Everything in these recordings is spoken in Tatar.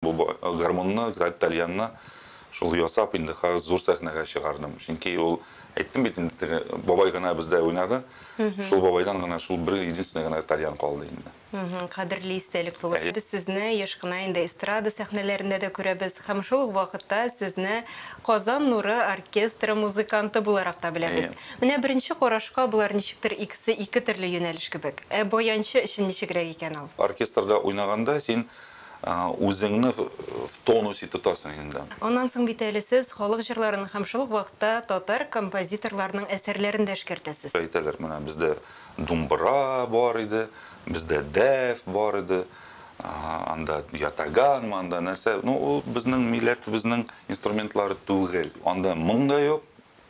Бу гармунны, тальянны шул ясап инде хәзер зур сәхнәгә чыгардым. Чөнки ул, әйттем бит инде, теге бабай гына бездә уйнады. Шул бабайдан гына шул бер единственный гына тальян калды инде. Кадерле истәлек булып. Без сезне еш кына инде эстрада сәхнәләрендә дә күрәбез һәм шул ук вакытта сезне Казан нуры оркестры музыканты буларак та беләбез. Менә беренче карашка болар ничектер икесе ике төрле юнәлеш кебек. Ә баянчы өчен ничегрәк икән ул? Оркестрда уйнаганда син Үзеңне в тонусе тотасың инде. Аннан соң бит әле сез халык җырларын һәм шул ук вакытта татар композиторларының әсәрләрен дә эшкәртәсез. Әйтәләр, менә бездә думбыра бар иде, бездә дәф бар иде, анда ятаганмы, анда нәрсә, ну, ул безнең милләтебезнең инструментлары түгел. Анда моң да юк,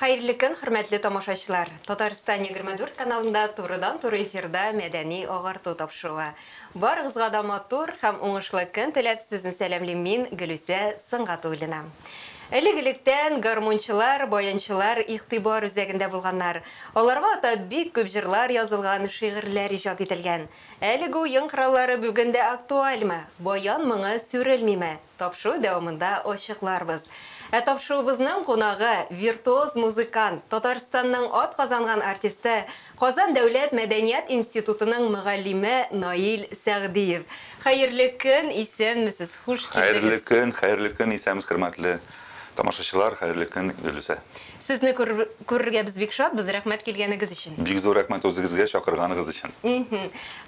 Хәерле көн, хөрмәтле тамашачылар! Татарстан егерме дүрт каналында турыдан-туры эфирда мәдәни агарту тапшыруы. Барыгызга да матур һәм уңышлы көн теләп, сезне сәламлим мин, Гөлүсә Сөнгатуллина. Элек-электән гармунчылар, баянчылар игътибар үзәгендә булганнар. Аларга атап бик күп җырлар язылган, шигырьләр иҗат ителгән. Әлеге уен кораллары бүген дә актуальмы? Баян моңы сүрелмиме? Тапшыру дәвамында ачыкларбыз. Ә тапшыруыбызның кунагы, виртуоз музыкант, Татарстанның атказанган артисты, Казан дәүләт мәдәният институтының мөгаллиме Наил Сәгъдиев. Хәерле көн, исәнмесез, хуш килдегез! Хәерле көн, хәерле көн, исәнмесез, хөрмәтле. Тамашачылар, хәерле көн, Гөлүсә! Сезне күрергә без бик шатбыз, рәхмәт килгәнегез өчен! Бик зур рәхмәт үзегезгә чакырганыгыз өчен!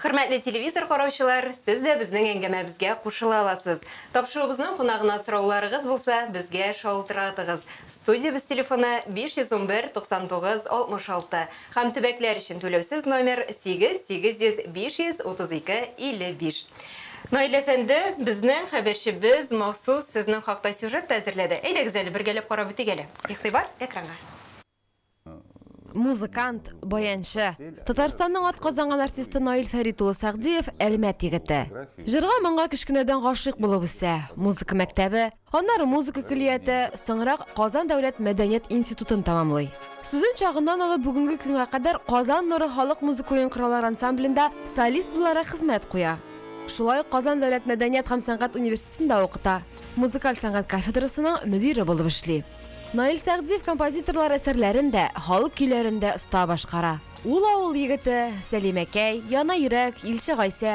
Хөрмәтле телевизор караучылар, сез дә безнең әңгәмәбезгә кушыла аласыз. Тапшыруыбызның кунагына сорауларыгыз булса, безгә шалтыратыгыз. Студиябез телефоны, 511 99 66. Һәм төбәкләр өчен түләүсез номер, 8 800 532 55. Наил әфәнде, безнең хәбәрчебез махсус сезнең хакта сюжет та әзерләде. Әйдәгез әле, бергәләп карап үтик әле. Игътибар, экранга! Музыкант, баянчы, Татарстанның атказанган артисты Наил Фәрит улы Сәгъдиев, Әлмәт егете. Җырга-моңга кечкенәдән гашыйк булып үсә, музыка мәктәбе, Аннары музыка көллияте, соңрак Казан дәүләт мәдәният институтын тәмамлый. Студент чагыннан алып бүгенге көнгә кадәр Казан нуры халык музыка уен кораллары ансамблендә солист буларак хезмәт куя. Шулай ук Казан дәүләт мәдәният һәм сәнгать университетында укыта, музыкаль сәнгать кафедрасының мөдире булып эшли. Наил Сәгъдиев композиторлар әсәрләрен дә, халык көйләрен дә оста башкара. Ул авыл егете, Сәлимәкәй, Яна йөрәк, Илче Гайсә,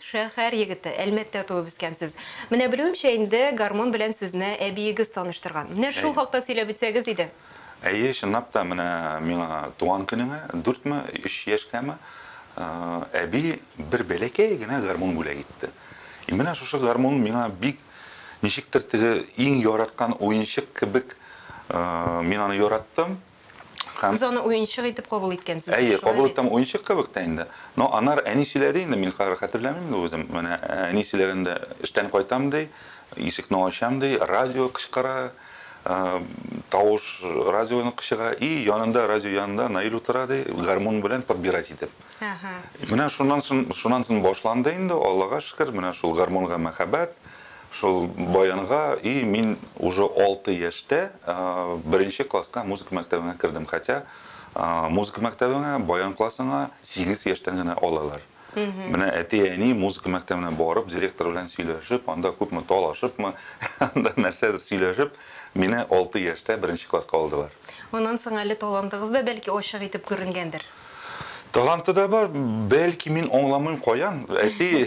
Шәһәр егете, Әлмәттә туып үскәнсез. Менә белүемчә инде, гармун белән сезне әбиегез таныштырган. Менә шул Әйе. хакта сөйләп үтсәгез иде. Әйе, чынлап та, менә миңа туган көнемә, дүртме, өч яшькәме, әби бер бәләкәй генә гармун бүләк итте. И менә шушы гармун миңа бик, ничектер, теге иң яраткан уенчык кебек, мин аны яраттым. Һәм... Сез аны уенчык итеп кабул иткәнсез. Әйе, кабул иттем, уенчык кебек тә инде. Но анар әни сөйләде инде, мин хәзер хәтерләмим дә үзем. Менә әни сөйләгәндә, эштән кайтам, ди, ишекне ачам, ди, радио кычкыра, тавыш радионыкы чыга, и янында, радио янында Наил утыра, ди, гармун белән подбирать итеп. Менә шуннан соң, шуннан соң башланды инде, Аллага шөкер, менә шул гармунга мәхәббәт, шул баянга, и мин уже 6 яшьтә беренче класска музыка мәктәбенә кердем, хотя музыка мәктәбенә, баян классына 8 яшьтән генә алалар. Менә әти-әни музыка мәктәбенә барып, директор белән сөйләшеп, анда күпме талашыпмы, анда нәрсәдер сөйләшеп, мине 6 яшьтә беренче класска алдылар. Моннан соң әле талантыгыз да бәлки ачык итеп күренгәндер? Таланты да бар, бәлки мин аңламыйм каян. Әти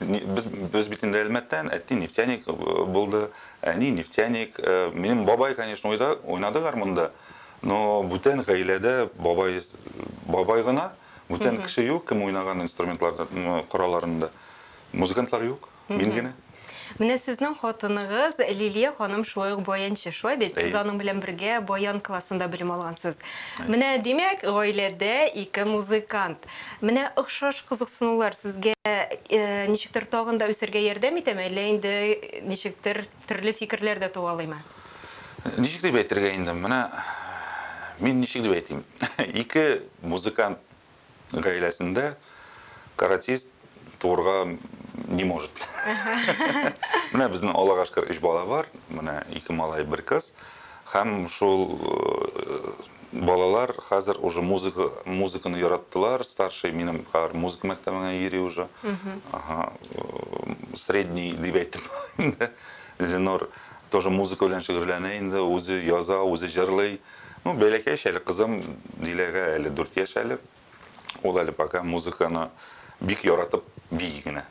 без без бит инде Әлмәттән, әти нефтяник булды, әни нефтяник. Э, минем бабай, конечно, уйда, уйнады гармунда. Но бүтән гаиләдә бабай бабай гына, бүтән кеше юк, кем уйнаган инструментларда, коралларында. Музыкантлар юк. Мин генә. Менә сезнең хатыныгыз Лилия ханым шулай ук баянчы, шулай бит? Сез аның белән бергә баян классында белем алгансыз. Менә, димәк, гаиләдә ике музыкант. Менә охшаш кызыксынулар сезгә ничектер тагын да үсәргә ярдәм итәме, әллә инде ничектер төрле фикерләр дә туалыймы? Ничек дип әйтергә инде, менә мин ничек дип әйтим, ике музыкант Гаиләсендә каратист туырга не может. Менә безнең Аллага шөкер өч бала бар. Менә ике малай, бер кыз. Һәм шул э, балалар хәзер уже музыка музыканы яраттылар. Старший минем хәзер музыка мәктәбенә йөри уже. Ага. Э, средний дип әйтеп инде. Зинор тоже музыка белән шөгыльләнә инде, үзе яза, үзе җырлый. Ну, бәләкәй яшь әле кызым Диләгә әле дүрт яшь әле. Ул әле пока музыканы бик яратып бии генә.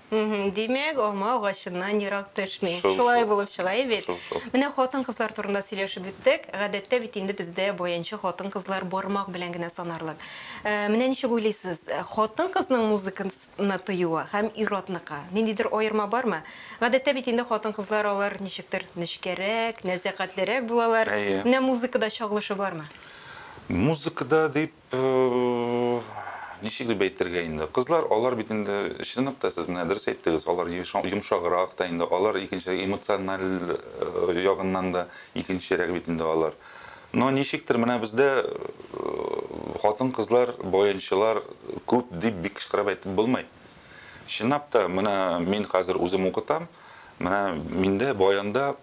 Димәк, алма агачыннан ерак төшми. Шул, Шулай шул. булып чыга бит. Шул, шул. Менә хатын-кызлар турында сөйләшеп үттек. Гадәттә бит инде бездә баянчы хатын-кызлар бармак белән генә санарлык. Ә, Менә ничек уйлыйсыз, хатын-кызның музыканс- ны тыюы һәм ир-атныкы ниндидер аерма бармы? Гадәттә бит инде хатын-кызлар алар ничектер нечкәрәк, нәзакәтлерәк булалар. Әйе. Менә музыкада чагылышы бармы? Музыкада дип, ничек дип әйтергә инде, кызлар алар бит инде, чын ук та сез менә дөрес әйттегез, алар йомшаграк та инде, алар икенчерәк, эмоциональ ягыннан да икенчерәк бит инде алар. Но ничектер менә бездә хатын-кызлар, баянчылар күп дип бик кычкырып әйтеп булмый. Чынлап та, менә мин хәзер үзем укытам, менә миндә баянда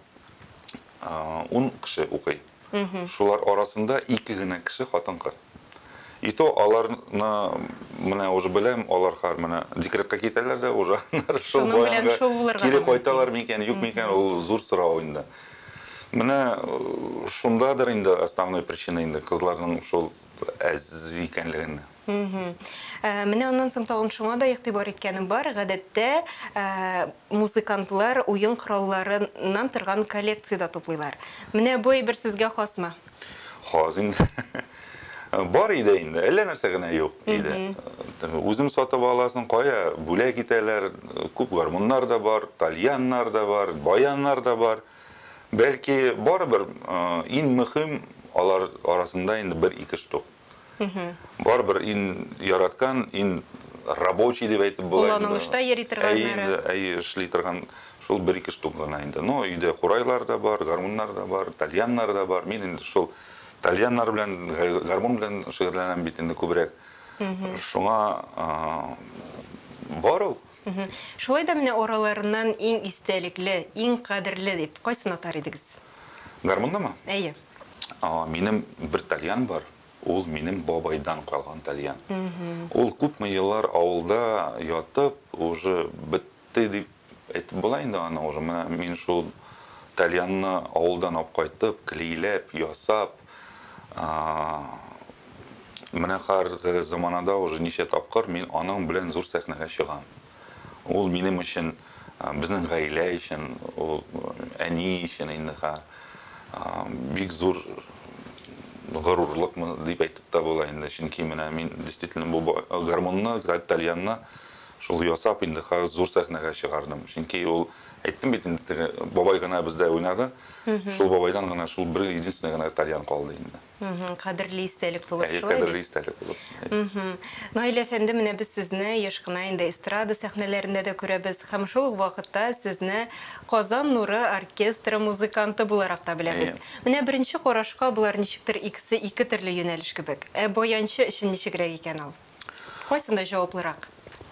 ун кеше укый. Шулар арасында ике генә кеше хатын-кыз. И то аларны менә уже беләм, алар хәр менә декретка китәләр дә уже аннары шул баянга кире кайталар микән, юк микән, ул зур сорау инде. Менә э, шундадыр инде основной причина инде кызларның шул әз икәнлегендә. Э, менә аннан соң тагын шуңа да игътибар иткәнем бар. Гадәттә э, музыкантлар уен коралларыннан торган коллекция дә туплыйлар. Менә бу әйбер сезгә хасмы? Хаз инде. Бар иде инде, әллә нәрсә генә юк иде. Үзең сатып аласың, кая бүләк итәләр, күп гармуннар да бар, тальяннар да бар, баяннар да бар. Бәлки барыбер иң мөһим алар арасында инде бер ике штук. Барыбер ин яраткан, ин рабочий дип әйтеп була. Кулланылышта йөри торган. Әйе, инде, әйе, эшли торган шул бер-ике штук гына инде. Но өйдә курайлар да бар, гармуннар да бар, тальяннар да бар. Мин инде шул тальяннар белән, гармун белән шөгыльләнәм бит инде күбрәк. Шуңа бар ул. Шулай да менә араларыннан иң истәлекле, иң кадерле дип кайсын атар идегез? Гармуннымы? Әйе. Минем бер тальян бар, ул минем бабайдан калган тальян. Ул күпме еллар авылда ятып, уже бетте дип әйтеп була инде аны уже. Менә мин шул тальянны авылдан алып кайтып, клейләп, ясап, Менә хәзерге заманада уже ничә тапкыр мин аның белән зур сәхнәгә чыгам. Ул минем өчен, безнең гаилә өчен, ул әни өчен инде хәзер бик зур горурлыкмы дип әйтеп тә була инде. Чөнки менә мин действительно бу гармунны, тальянны шул ясап инде хәзер зур сәхнәгә чыгардым. Чөнки ул әйттем бит инде бабай гына бездә уйнады. Шул бабайдан гына шул бер единственный гына тальян калды инде. Кадерле истәлек булып шулай бит? Әйе, кадерле истәлек булып. Наил әфәнде, менә без сезне еш кына инде эстрада сәхнәләрендә дә күрәбез һәм шул ук вакытта сезне Казан нуры оркестры музыканты буларак та беләбез. Менә беренче карашка болар ничектер икесе ике төрле юнәлеш кебек. Ә баянчы өчен ничегрәк икән ул? Кайсында җаваплырак?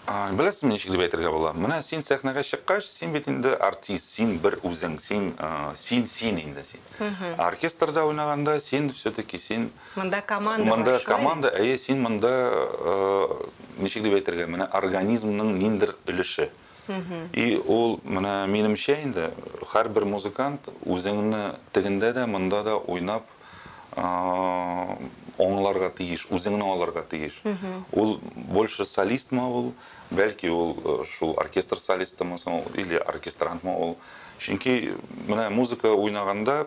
Беләсезме, ничек дип әйтергә була? Менә син сәхнәгә чыккач, син бит инде артист, син бер үзең, син син син инде син. Оркестрда уйнаганда син все-таки син Монда команда бар. Монда команда, әйе, син монда ничек дип әйтергә, менә организмның ниндер өлеше. И ул менә минемчә инде һәрбер музыкант үзеңне тегендә дә, монда да уйнап аңларга тиеш, үзеңне алырга тиеш. Ул больше солистмы ул, бәлки ул э, шул оркестр солистымы соң или оркестрантмы ул. Чөнки менә музыка уйнаганда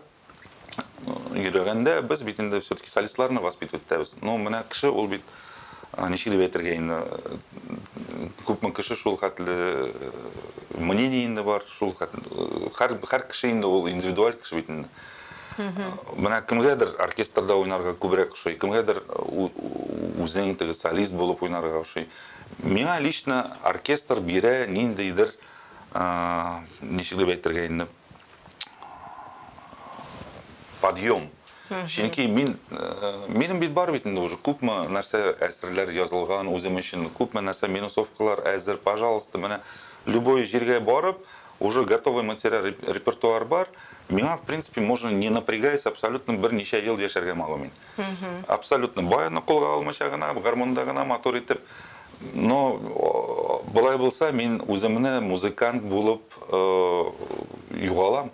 йөрәгәндә без бит инде все-таки солистларны воспитывать итәбез. Ну, менә кеше ул бит ничек дип әйтергә инде күпме кеше шул хәтле мнение инде бар, шул хәтле һәр һәр кеше инде ул индивидуаль кеше бит инде. Менә кемгәдер оркестрда уйнарга күбрәк ошый, кемгәдер үзең теге солист булып уйнарга ошый. Миңа лично оркестр бирә ниндидер ничек дип әйтергә инде подъем. Чөнки мин минем бит бар бит инде уже күпме нәрсә әсәрләр язылган үзем өчен, күпме нәрсә минусовкалар әзер, пожалуйста, менә любой җиргә барып, уже готовый материал репертуар бар. Миңа в принципе можно не напрягаясь абсолютно берничә ел яшәргә могу мин. Абсолютно бай аны кулга алмыйча гына, гармунда гына матур итеп. Но болай булса, мин үземне музыкант булып югалам.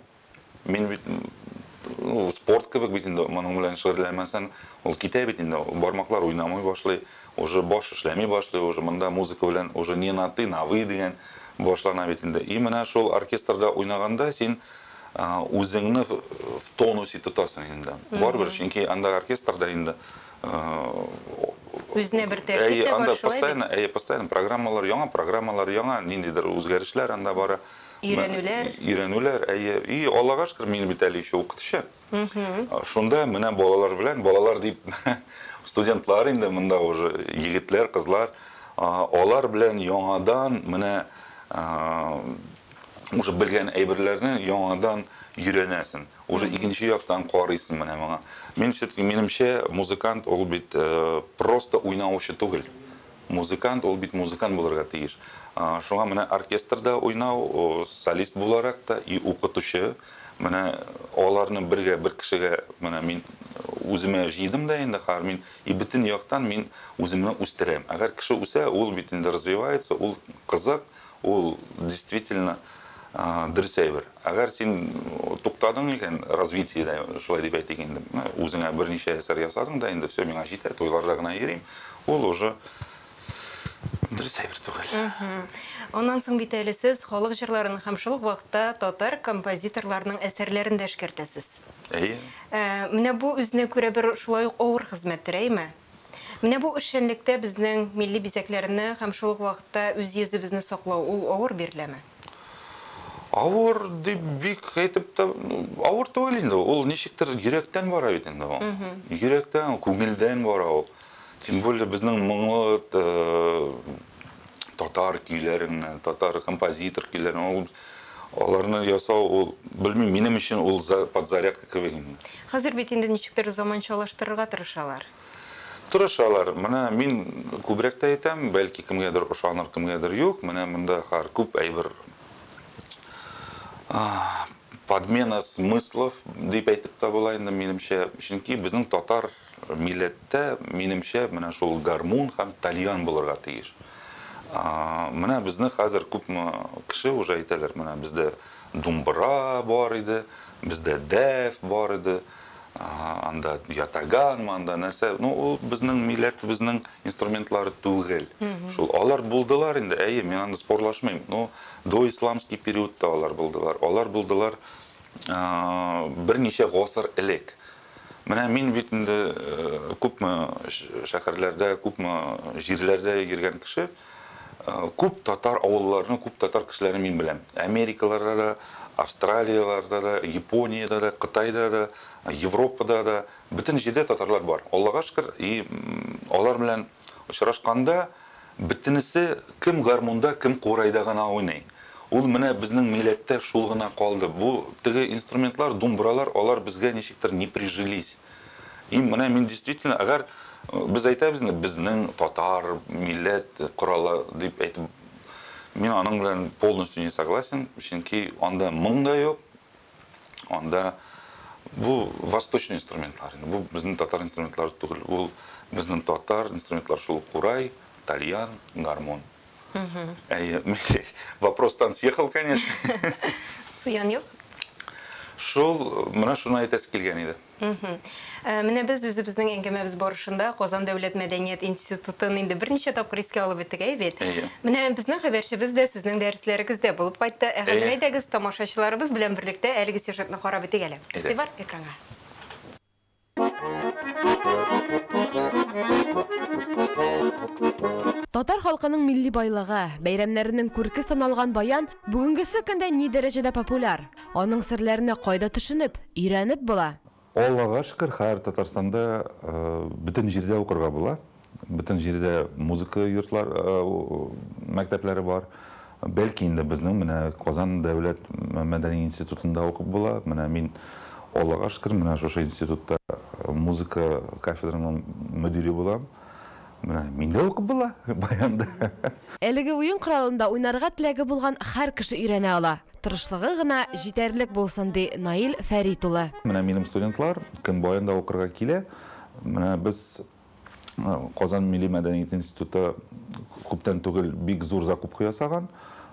Мин бит спорт кебек бит инде моның белән шөгыльләнмәсәң, ул китә бит инде, бармаклар уйнамый башлый, уже баш эшләми башлый, уже монда музыка белән уже не на ты, на вы дигән башлана бит инде. И менә шул оркестрда уйнаганда син үзеңне в тонусе тотасың инде. Барыбер, чөнки анда оркестрда инде үзенә бер тәртип тә бар шулай бит. Әйе, постоянно программалар, яңа программалар, яңа ниндидер үзгәрешләр анда бара. Өйрәнүләр. Өйрәнүләр, әйе. И Аллага шөкер, мин бит әле еще укытучы. Шунда менә балалар белән, балалар дип студентлар инде монда уже егетләр, кызлар, алар белән яңадан менә уже белгән әйберләрне яңадан өйрәнәсен. Уже икенче яктан карыйсын менә моңа. Мин все-таки минемчә музыкант ул бит просто уйнаучы түгел. Музыкант, ул бит музыкант булырга тиеш. Шуңа менә оркестрда уйнау, солист буларак та и укытучы, менә аларны бергә бер кешегә менә мин үземә җыйдым да инде хәзер мин и бөтен яктан мин үземне үстерәм. Әгәр кеше үсә, ул бит инде развивается, ул кызык, Ул действительно дөрес әйбер. Әгәр син туктадың икән, развитиедә, шулай дип әйтик инде, үзеңә берничә әсәр ясадың да, инде все, миңа җитә, туйларда гына йөрим, ул уже дөрес әйбер түгел. Аннан соң бит әле сез халык җырларын һәм шул ук вакытта татар композиторларының әсәрләрен дә эшкәртәсез. Әйе. Менә бу үзенә күрә бер шулай ук авыр хезмәттер, әйме? Менә бу эшчәнлектә безнең милли бизәкләрне һәм шул ук вакытта үз йөзебезне саклау, ул авыр биреләме? Авыр дип бик әйтеп тә, ну, авыр түгел инде. Ул ничектер йөрәктән бара бит инде ул. Йөрәктән, күңелдән бара ул. Тем более безнең моңлы татар көйләреннән, татар композитор көйләреннән ул Аларны ясау ул, белмим, минем өчен ул подзарядка кебек инде. Хәзер бит инде ничектер заманчалаштырырга тырышалар. Тырышалар. Менә мин күбрәк тә әйтәм, бәлки кемгәдер ошаныр, кемгәдер юк. Менә монда хәр күп әйбер подмена смыслов дип әйтеп тә була инде, минемчә. Чөнки безнең татар Милләттә, минемчә, менә шул гармун һәм тальян булырга тиеш. Менә безне хәзер күпме кеше уже әйтәләр, менә бездә думбыра бар иде, бездә дәф бар иде, анда ятаганмы, анда нәрсә. Ну, ул безнең милләтебезнең инструментлары түгел. Шул алар булдылар инде, әйе, мин аны спорлашмыйм. Ну, до исламский периодта алар булдылар. Алар булдылар берничә гасыр элек. Менә мин бит инде күпме шәһәрләрдә, күпме җирләрдә йөргән кеше. Күп татар авылларының, күп татар кешеләрен мин беләм. Америкаларда да, Австралияларда да, Япониядә дә, Кытайда да, Европада да, бөтен җирдә татарлар бар. Аллага шөкер, и алар белән Очрашканда, бөтенесе кем гармунда, кем курайда гына уйный. Ул менә безнең милләттә шул гына калды. Бу теге инструментлар, думбралар, алар безгә ничектер не прижились. И менә мин действительно, әгәр без әйтәбез инде, безнең татар милләт коралы дип әйтеп, мин аның белән полностью не согласен, чөнки анда моң да юк, Анда бу восточный инструментлар, бу безнең татар инструментлары түгел, ул безнең татар инструментлар шул курай, тальян, гармон. Әйе, вопрос тан съехал, конечно. Зыян юк. Шул, менә шуны әйтәсе килгән иде. Мгм. Э, Менә без үзебезнең әңгәмәбез барышында Казан дәүләт мәдәният институтын инде берничә тапкыр искә алып үттек, әй бит. Әйе. Менә безнең хәбәрчебез дә сезнең дәресләрегездә булып кайтты. Ә хәзер Әйе. әйдәгез, тамашачыларыбыз белән берлектә әлеге сюжетны карап үтик әле. Әйдәгез. Игътибар экранга. Татар халкының милли байлыгы, бәйрәмнәренең күрке саналган баян бүгенгесе көндә ни дәрәҗәдә популяр? Аның серләренә кайда төшенеп, өйрәнеп була? Аллага шөкер, хәер Татарстанда бөтен җирдә укырга була. Бөтен җирдә музыка йортлар, мәктәпләре бар. Бәлки инде безнең менә Казан дәүләт мәдәни институтында укып була. Менә мин, Аллага шөкер, менә шушы институтта музыка кафедраның мөдире булам. Менә мин дә укып була, баянда. Әлеге уен коралында уйнарга теләге булган хәр кеше өйрәнә ала. Тырышлыгы гына җитәрлек булсын, ди Наил Фәрит улы. Менә минем студентлар, кем баянда укырга килә, менә без Казан милли мәдәният институты күптән түгел бик зур закупка ясаган.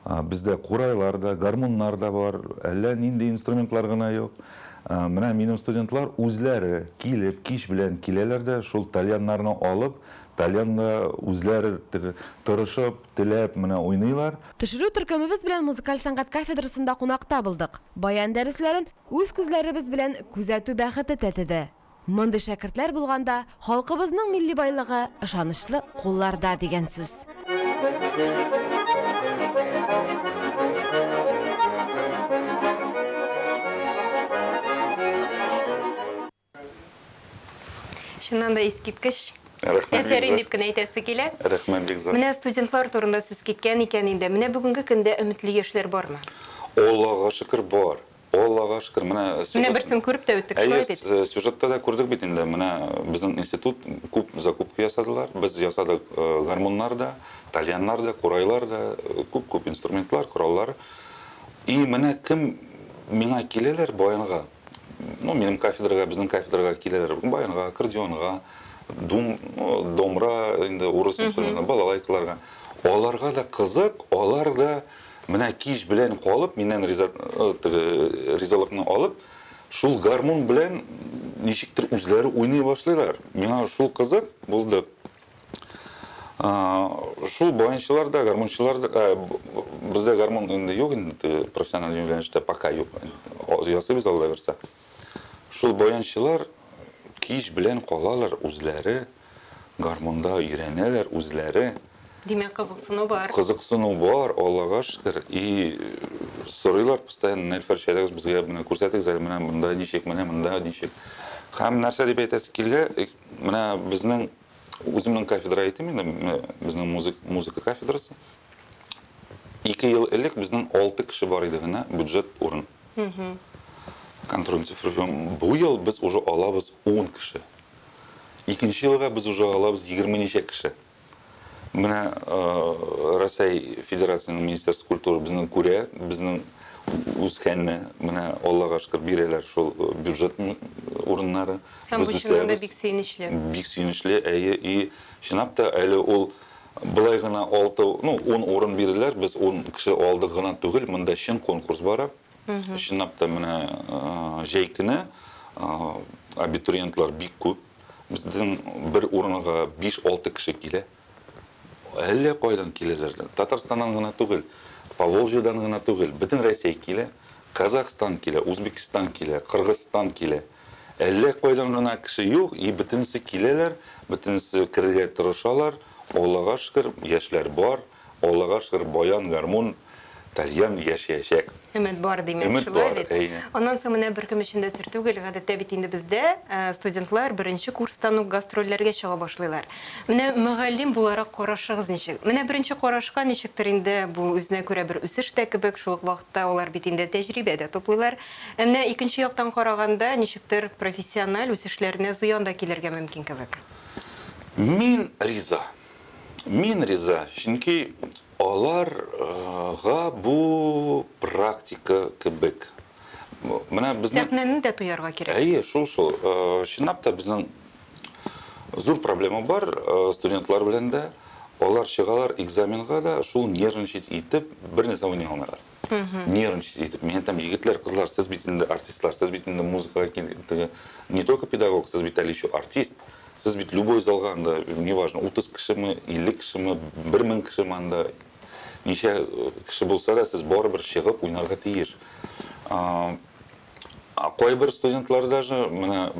Бездә курайлар да, гармуннар да бар, әллә нинди инструментлар гына юк. Менә минем студентлар үзләре килеп, кич белән киләләр дә, шул тальяннарны алып, тальянда үзләре тырышып, теләп менә уйныйлар. Төшерү төркемебез белән музыкаль сәнгать кафедрасында кунакта булдык. Баян дәресләрен үз күзләребез белән күзәтү бәхете тәтеде. Мондый шәкертләр булганда, халкыбызның милли байлыгы, ышанычлы кулларда, дигән сүз. Чыннан да искиткеч әсәрин дип кенә әйтәсе килә. Рәхмәт, Бикзат. Менә студентлар турында сүз киткән икән инде, менә бүгенге көндә өметле яшьләр бармы? Аллага шөкер, бар. О, Аллага шөкер, менә сюжет. Менә берсен күреп тә үттек, шулай бит? Әйе, сюжетта да күрдек бит инде, менә безнең институт күп закупка ясадылар, без ясадык гармуннар да, тальяннар да, курайлар да, күп-күп инструментлар, кораллар. И менә кем миңа киләләр, баянга, ну, минем кафедрага, безнең кафедрага киләләр, баянга, аккордеонга, дум, домра, инде урыс инструменты, балалайкаларга. Аларга да кызык, алар да Менә кич белән калып, миннән риза, э, теге, э, ризалыкны алып, шул гармун белән ничектер үзләре уйный башлыйлар. Миңа шул кызык булды. А, шул баянчылар да, гармунчылар да, ә, бездә гармун инде юк инде, профессиональ юнәлештә пока юк. Ясыйбыз Алла бирсә. Шул баянчылар кич белән калалар үзләре, гармунда өйрәнәләр үзләре. Димәк, кызыксыну бар. Кызыксыну бар, Аллага шөкер. И сорыйлар постоянно, Нәлфәр чәләгез безгә менә күрсәтегез әле, менә монда ничек, менә монда ничек. Һәм нәрсә дип әйтәсе килә, менә безнең үземнең кафедра әйтим инде, безнең музыка, музыка кафедрасы. Ике ел элек безнең алты кеше бар иде генә, бюджет урын. Контроль цифры. Бу ел без уже алабыз ун кеше. Икенче елга без уже алабыз егерме ничә кеше. Менә Рәсәй Федерациясенең Министерство культуры безнең күрә, безнең үскәнне, менә Аллага шөкер бирәләр шул бюджет урыннары. Һәм бу чыннан да бик сөенечле. Бик сөенечле, әйе. И чынлап та әле ул Болай гына алты, ну, ун урын бирделәр, без ун кеше алдык гына түгел, монда чын конкурс бара. Чынлап та менә җәй көне абитуриентлар бик күп. Безнең бер урынга 5-6 кеше килә. Әллә кайдан киләләр. Татарстаннан гына түгел, Поволжьедан гына түгел, бөтен Россия килә. Казахстан килә, Узбекстан килә, Кыргызстан килә. Әллә кайдан гына кеше юк и бөтенесе киләләр, бөтенесе керергә тырышалар, Аллага шөкер, яшьләр бар, Аллага шөкер, баян, гармун, тальян яшәячәк. Өмет бар димәк, Өмет шулай бар, бит? әйе. Аннан соң менә беркем өчен дә сер түгел, гадәттә бит инде бездә студентлар беренче курстан ук гастрольләргә чыга башлыйлар. Менә мөгаллим буларак карашыгыз ничек? Менә беренче карашка ничектер инде бу үзенә күрә бер үсеш тә кебек, шул ук вакытта алар бит инде тәҗрибә дә туплыйлар. Ә менә икенче яктан караганда, ничектер, профессиональ үсешләренә зыян да килергә мөмкин кебек. Мин риза. Мин риза, чөнки алар га бу практика кебек. Менә безнең Сәхнәне дә тоярга кирәк. Әйе, шул шул. Чынлап та, безнең зур проблема бар студентлар белән дә. Алар чыгалар экзаменга да, шул нервничать итеп, бернәрсә уйный алмыйлар. нервничать әйтеп мин әйтәм егетләр кызлар сез бит инде артистлар сез бит инде музыкага килдеге не только педагог сез бит әле еще артист сез бит любой залга анда неважно утыз кешеме илле кешеме бер мең кешеме анда ничә э, кеше булса да сез барыбер чыгып уйнарга тиеш А кайбер студентлар даже менә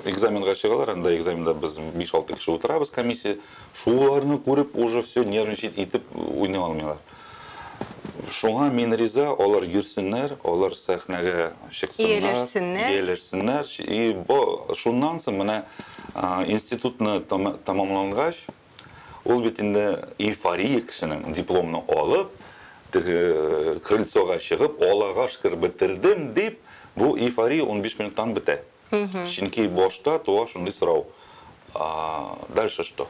экзаменга чыгалар, анда экзаменда без 5-6 кеше утырабыз комиссия, шуларны күреп уже все нервничать итеп уйный алмыйлар. Шуңа мин риза, алар йөрсеннәр, алар сәхнәгә чыксыннар, ияләшсеннәр. И бо, шуннан соң менә институтны тәмамлангач, Ул бит инде эйфория кешенең дипломны алып, теге крыльцога чыгып, Аллага шөкер, бетердем, дип, бу эйфория унбиш минуттан бетә. Чөнки башта туа шундый сорау, А дальше что?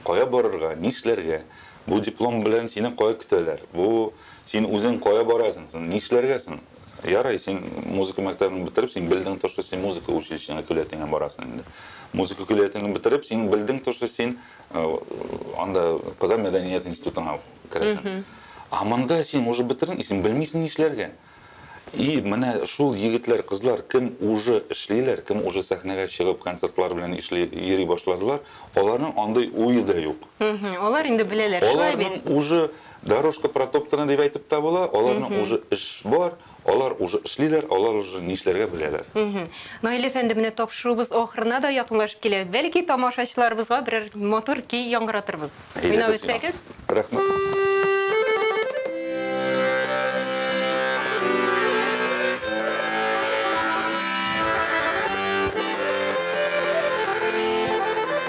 Кая барырга, нишләргә? Бу диплом белән сине кая көтәләр? Бу син үзең кая барасың соң, нишләргә соң? Ярый, син музыка мәктәбен бетереп, син белдең то, что син музыка училищесына көллиятеңә барасың инде. Музыка көллиятеңне бетереп, син белдең то, что син э, анда Казан мәдәният институтына керәсең. А монда син уже бетердең, и син белмисең нишләргә. И менә шул егетләр, кызлар кем уже эшлиләр, кем уже сәхнәгә чыгып концертлар белән эшли йөри башладылар, аларның андый уе да юк. Алар инде беләләр, шулай бит. Аларның уже Дорожка протоптана дип әйтеп тә була, аларның уже эш бар, алар уже эшлиләр, алар уже нишләргә беләләр. Наил әфәнде, менә тапшыруыбыз ахырына да якынлашып килә, бәлки тамашачыларыбызга берәр матур көй яңгыратырбыз, уйнап үтсәгез?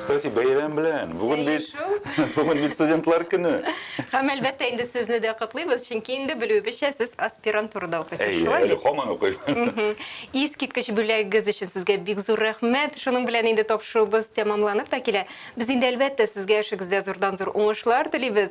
Кстати, бәйрәм белән. Бүген бит бүген бит студентлар көне. Һәм әлбәттә инде сезне дә котлыйбыз, чөнки инде белүебезчә сез аспирантурада укыйсыз, шулай бит? Әйе, һаман укыйм. Искиткеч бүләгегез өчен сезгә бик зур рәхмәт. Шуның белән инде тапшыруыбыз тәмамланып та килә. Без инде әлбәттә сезгә эшегездә зурдан-зур уңышлар телибез.